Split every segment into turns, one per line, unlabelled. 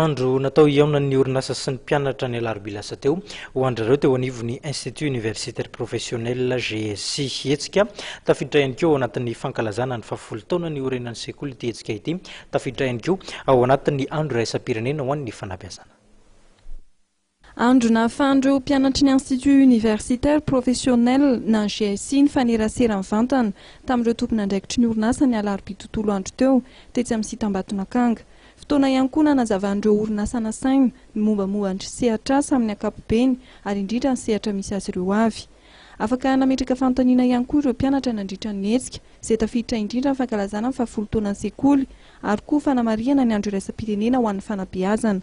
Andro natao hihaonan'ny orinasa sy ny mpianatra ny alarobia lasa teo, ho andry ireo teo anivon'ny Institut Universitaire Professionnel, GSC. Hetsika tafiditra ihany koa ao anatin'ny fankalazana ny fahafolo taona niorenan'ny sekoly ity hetsika ity. Tafiditra ihany koa ao anatin'ny andro iraisam-pirenena ho an'ny fanabeazana.
Andro nahafahan'ireo mpianatry ny Institut Universitaire Professionnel na GIC nifanerasera mivantana tamin'ireo tompon'andraikitry ny orinasa ny alarobia tontolo andro teo, tetsy amin'ny site Ambatonakanga. Fotoana ihany koa nanazavan'ireo orinasa nasaina ny mombamomba ny sehatr'asa amin'ny ankapobeny ary indrindra ny sehatra misy azy ireo avy. Afaka nametraka fanontaniana ihany koa ireo mpianatra nandritra ny hetsika izay tafiditra indrindra ny fankalazana ny fahafolo taonan'ny sekoly ary koa fanamarihana ny andro iraisam-pirenena ho an'ny fanabeazana.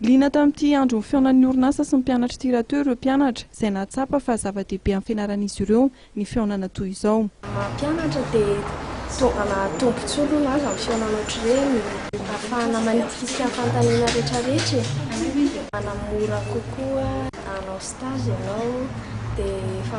Liana tamin'ity
andron'ny fihaonan'ny orinasa sy ny mpianatr'ity raha teo ireo mpianatra, izay nahatsapa fa zava-dehibe amin'ny fianaran'izy ireo ny fihaonana toy izao. Ny maha mpianatra dia
fitaovana tombontsoa aloha ny azo amin'ny fihaonana ohatr'ireny, ahafahana manitsikitsiky ny fanontaniana rehetrarehetra e, manamora kokoa. Raha hanao stage ianao dia efa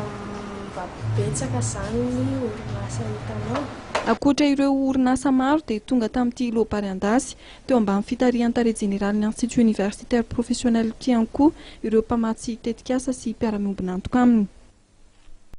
mba betsaka izany ny orinasa hitanao. Ankoatra ireo
orinasa maro dia tonga tamin'ity Lobary Andasy, Teo ambany fitarihan'ny Tale Jeneralin'ny Institut Universitaire Professionnel Kianku ireo mpamatsy tetikasa sy mpiara-miombon'antoka aminy.